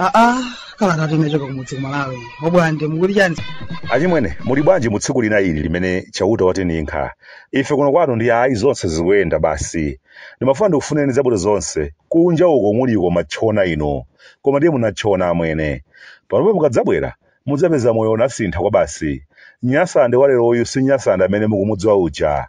aa kalata imachoka kumudzi kumalawi obwande mukuti chani achimwene muli bwanji mu tsiku lina ili limene chauta watininkha ife kuno kwathu ndi ayi zonse zikuyenda basi ndimafuna ndikufunireni zabwino zonse kunja uko muliko matchona ino koma ndiye munatchona amwene panopa mukadzabwera mudzapeza moyo unasintha kwabasi nyasande waleroyu si nyasande amene mukumudziwa uja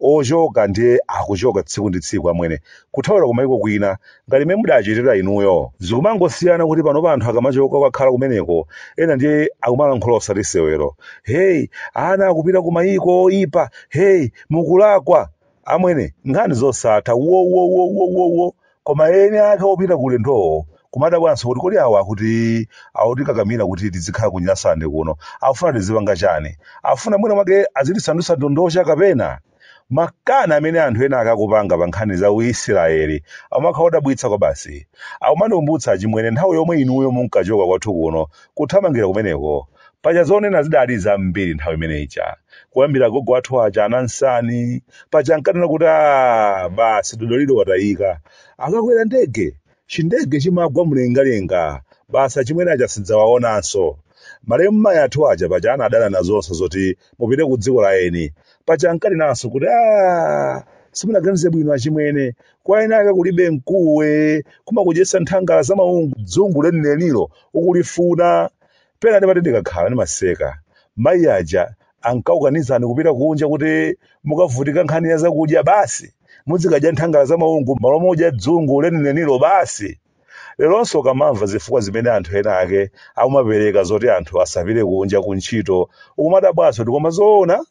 ochoka ndiye akuchoka tsiku ndi tsiku amwene kuthawira kumaiko kwina ngati mmene mudachitira inuyo zikumangosiyana kuti panopa anthu akamachoka kwakhala kumeneko ena ndiye akumalankhula osati sewero heyi ana akupita kumaiko oyipa heyi mukulakwa amwene nkhani zosatha wowowowowowo Koma eni ake opita ku ulendowo kumadabwanso kuti kodi awa akuti autikakamira kuti tizikhala ku Nyasande kuno aufuna tizipanga chani? Afuna mwina mwake azitisandutsa ndondocha kapena? Makani amene anthu ena ake akupanga pa nkhani za u Isiraeli amakhala odabwitsa kwabasi. Akumandikumbutsa achimwene nthawi yomwe inuyo munkachoka kwathu kuno kuthamangira kumeneko. paja zonena zidali zambiri nthawi imene ija kuyambira gogo athu aja anansani paja ankanena kuti a basi dodoliro watayika akakwera ndege chindege chimagwa mlengalenga basi achimwene aja sitidzawaonanso malemu mayi athu aja paja anadana nazonso zoti mupite ku dziko la eni paja ankanenanso kuti a simunaganize bwino achimwene kwa eni ake kulibe mkuwo kumakudyetsa nthangala za maungu dzungu lenilenilo ukulifuna pena ndimati ndikakhala ndimaseka mayi aja ankakukanizani kupita kunja kuti mukavutika nkhani ya zakudya basi muzikadya nthangala za maungu m'malo modya dzungu lenilenilo basi leronso ukamamva zifukwa zimene anthu ena ake akumapereka zoti anthu asapite kunja ku ntchito ukumadabwanso kuti koma zoona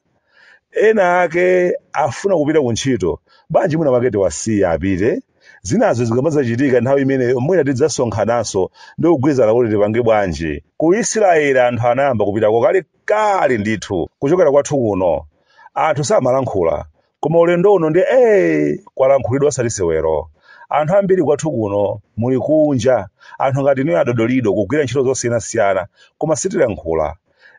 ena ake afuna kupita ku ntchito bwanji mwina mwake tiwasiye apite zinazo zikamadzachitika nthawi imeneyo mwina tidzasonkhananso ndi kugwirizana kuti tipange bwanji ku isiraeli anthu anayamba kupitako kale kale ndithu kuchokera kwathu kuno anthu samalankhula koma ulendo uno ndiye kwalankhulidwa osati sewero anthu ambiri kwathu kuno muli kunja anthu ngati inuyo adodolido kugwira ntchito zosiyanasiyana koma sitilankhula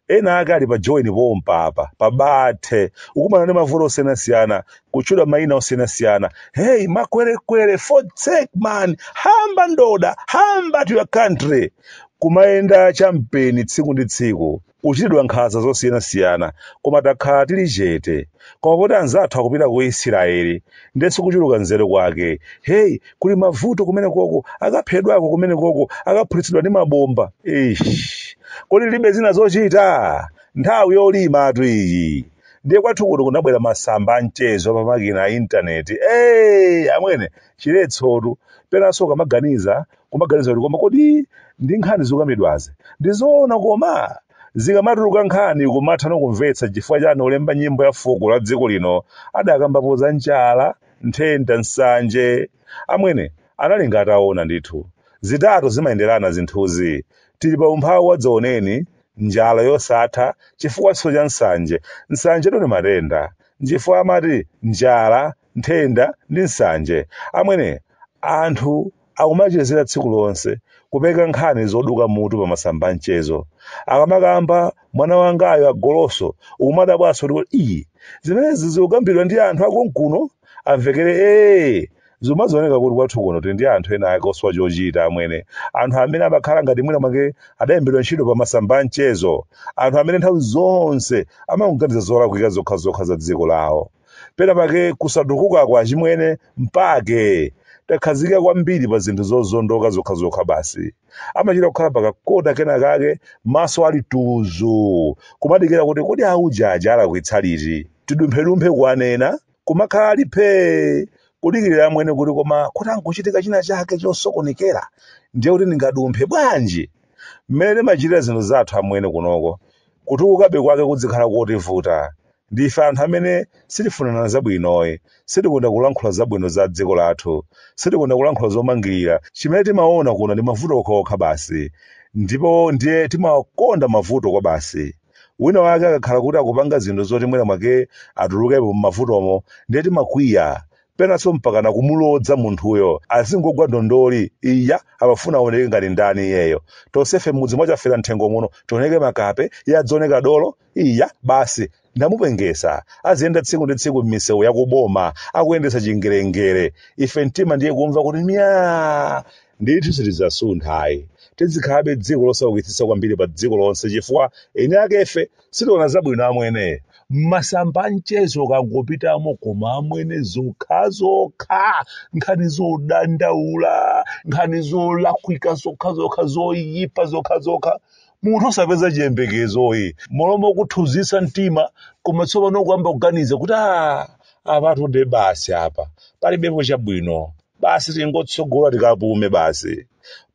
ena ake ali pa Joni pompa apa pabathe ukumana ndi mavuto osiyanasiyana kutchulidwa mayina osiyanasiyana hey makwerekwere fotsek man hamba ndoda hamba to your country kumayenda champeni tsiku ndi tsiku kuchitidwa nkhanza zosiyanasiyana koma takhala tili chete koma poti anzathu akupita ku isiraeli ndiyetu kuchuluka nzeru kwake hey kuli mavuto kumene koko akaphedwako kumene koko akaphulitsidwa ndi mabomba Eish. kodi alibe zina zochita nthawi yolimatu iyi ndiye kwathu kuno kunabwera masamba amchezo pa makina a intaneti hey, amwene chiletsotu penanso ukamaganiza kumaganiza kuti koma kodi ndi nkhani zikukambidwazi ndizoona koma zikamatuluka nkhani kumatha nkumvetsa chifukwa chani olemba nyimbo ya fuko la dziko lino adakambapo za njala nthenda, nsanje. Amwene, anali nga ataona ndithu. Zitatu zimayenderana zinthuzi. Tili pa umphawi wadzaoneni, njala yosatha, chifukwanso cha nsanje. Nsanjetu ndi matenda. Nchifukwa amati njala, nthenda, ndi nsanje. Amwene, anthu akumachezera tsiku lonse, kupeka nkhani zoduka mutu pa masamba a mchezo. Akamakamba, mwana wangayo agoloso, ukumadabwanso kuti kodi iyi, zimenezi zikukambidwa ndi anthu akonkuno? Amvekere ee! Zimazioneka kuti kwathu kuno tili ndi anthu ena ake osowa chochita amwene, anthu amene amakhala ngati mwina mwake adalembedwa ntchito pa masamba a mchezo, anthu amene nthawi zonse amangoganiza zolakwika zokhazokha za dziko lawo. pena pake kusatukuka kwa achimwene mpake takhazikika kwambiri pa zinthu zozondoka zokhazokha basi amachita kukhala pakakota kena kake maso ali tuzu kumadikira kuti kodi auja aja alakwitsa liti tidumphedumphe kuwanena kumakhala ali phee kudikirira amwene kuti koma kuti angochitika china chake chosokonekera ndiye kuti ndingadumphe bwanji mmene timachitira zinthu zathu amwene kunoko kutukukabe kwake kudzikhala kotivuta Ndife anthu amene sitifunana zabwinoyi. Sitikonda kulankhula zabwino za dziko lathu. Sitikonda kulankhula zomangirira. Chimene timaona kuno ndi mavuto okhaokha basi. Ndipo ndiye timakonda mavuto kwabasi. Wina wake akakhala kuti akupanga zinthu zoti mwina mwake atulukepo m'mavutomo, ndiye timakwiya. Penanso mpakana kumulodza munthuyo. Azingogwa ndondoli. Iya, amafuna aoneke ngati ndani iyeyo. Tonsefe m'mudzi mwa Chafera mthengo muno tioneke makape, iye adzioneka dolo. Iya basi ndamupengesa aziyenda tsiku ndi tsiku m'misewu ya kuboma akuyendesa chingelengele ife mtima ndiye kumva kuti myaa ndithu sitidzasuntha ayi tidzikhalabe dziko losaukitsitsa kwambiri pa dziko lonse chifukwa eni akefe sitiwona zabwino amwene m'masamba a mchezo ukangopitamo koma amwene zokhazokha nkhani zodandaula nkhani zolakwika zokhazokha zoyipa zokhazokha munthu osapeza chiyembekezoyi m'malo mokuthunzitsa mtima koma tsopano ukuyamba kuganiza kuti a apatu de basi apa palibepo chabwino basi tingotsogola tikapume basi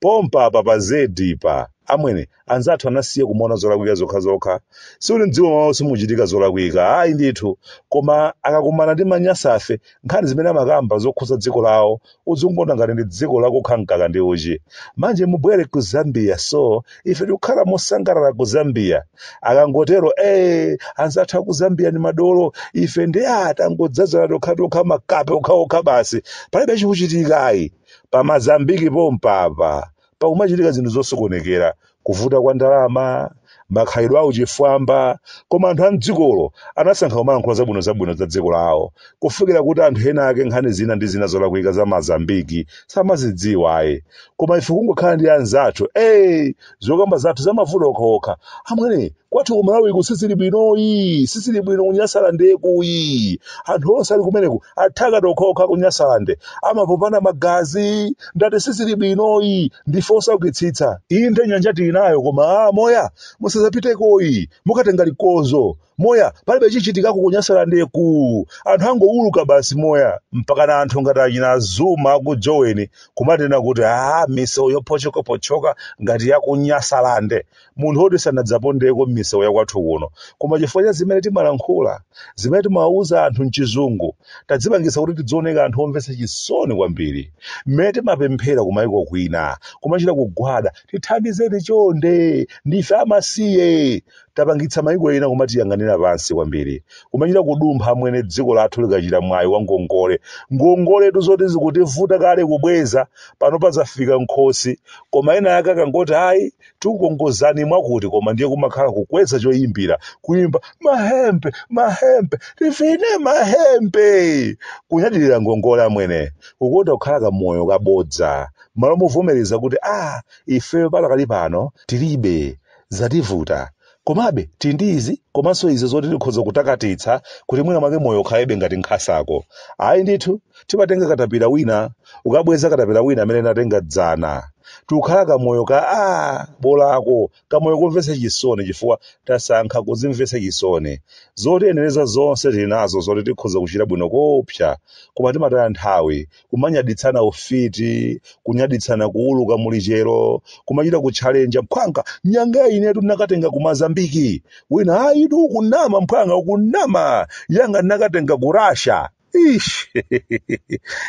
pompa apa pa zedi pa amwene anzathu anasiya kumaona zolakwika zokhazokha sikuti mdziko mwawo simuchitika zolakwika ayi ndithu koma akakumana ndi manyasafe nkhani zimene amakamba zokhuza dziko lawo udzingona ngati ndi dziko lakukha mkaka ndi uchi manje mubwere ku zambia so ife tikukhala mosangalala ku zambia akangotero ee anzathu aku zambia ni madolo ife ndiye tangodzazana tokhatokha makape okhaokha basi palibe chikuchitika ayi pamazambiki pompapa pakumachitika zinthu zosokonekera kuvuta kwa ndalama makhalidwe a uchifwamba koma anthu a mdzikolo anasankha kumalankhula zabwino zabwino za dziko lawo kufikira kuti anthu ena ake nkhani zina ndi zina zolakwika za mazambiki samazidziwa ayi koma ife kungokhala ndi anzathu ey zokamba zathu zamavuta okhaokha amwene kwathu ku malawiku sizili bwinoyi sizili bwino kunyasalandeku yi anthu onse ali kumeneku athaka okhaokha kunyasalande amapopana magazi ndati sizili bwinoyi ndife osaukitsitsa inde nyanja tili nayo koma a moya musazapitekoyi mukatenga likodzo moya palibe chichitikako kunyasalandeku anthu angowuluka basi moya mpaka anthu ngati achina zuma ku joweni kumatinena kuti a misewu yopochokapochoka ngati yakunyasalande munthu woti sanadzapondeko m'misewu ya kwathu kuno koma chifukwa cha zimene timalankhula zimene timawuza anthu mchizungu tadzipangisa kuti tidzioneka anthu omvetsa chisoni kwambiri mmene timapemphera kumayiko kwina kumachita kugwada tithandizeni chonde ndife amasiye tapangitsa mayiko ena kumatiyang'anira pansi kwambiri kumachita kudumpha amwene dziko lathu likachita mwayi wa ngongole ngongoletu zoti zikutivuta kale kubweza pano zafika m'khosi koma ena ake akangoti ayi tikukongozani mwakuti koma ndiye kumakhala kukweza choyimbira kuyimba mahembe mahembe tivine mahembe kunyadirira ngongole amwene kukonda kukhala kamoyo kabodza malo movomereza kuti a ifeyo palakali pano tilibe zativuta komabe tili ndi izi komanso izi zoti tikhoza kutakatitsa kuti mwina mwake moyo ukhaleko ngati nkhasako ayi ndithu timatenga katapira wina kukabweza katapira wina amene tinatenga dzana tikukhala kamoyo ka a bolako kamoyo komvetsa chisoni chifukwa tasankha kudzimvetsa chisoni zotiyenereza zonse tili nazo zoti tikhoza kuchita bwino koopsa koma timataya nthawi kumanyaditsana ufiti kunyaditsana kuuluka mulichero kumachita kutchalenja mphwanga nyanga inetu ndinakatenga kumazambiki wina ayitu ukunama mphwanga ukunama yanga ndinakatenga ku rasha ish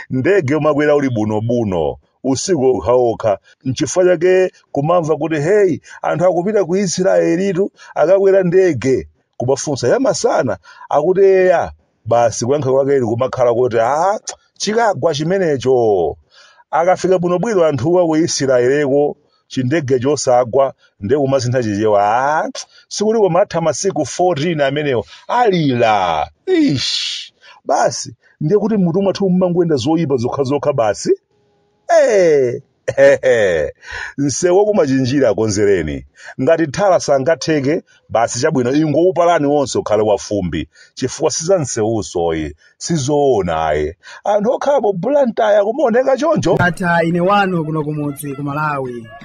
ndege umakwera uli bunobuno usiku okhaokha nchifukwa chake kumamva kuti heyi anthu akupita ku israelitu akakwera ndege kumafunsa yamasana akuti eya basi kuyankha kwake kumakhala kuti a chikagwa chimenecho akafika bwinobwino anthuwa ku isirayeleko chindege chosagwa ndiye kumasintha chichewa a sikuti kumatha masiku 14 amenewo alira ish basi ndiye kuti mutu mwathu mumangoyenda zoyipa zokhazokha basi Eh, hehe. msewu waku Machinjiri akonzereni ngati thala sangatheke basi chabwino ingowupalani wonse ukhale wafumbi chifukwa siza msewusoyi sizoona ayi anthu okhala pa bulantaya kumaoneka choncho Ata ine wanu kuno kumudzi ku Malawi.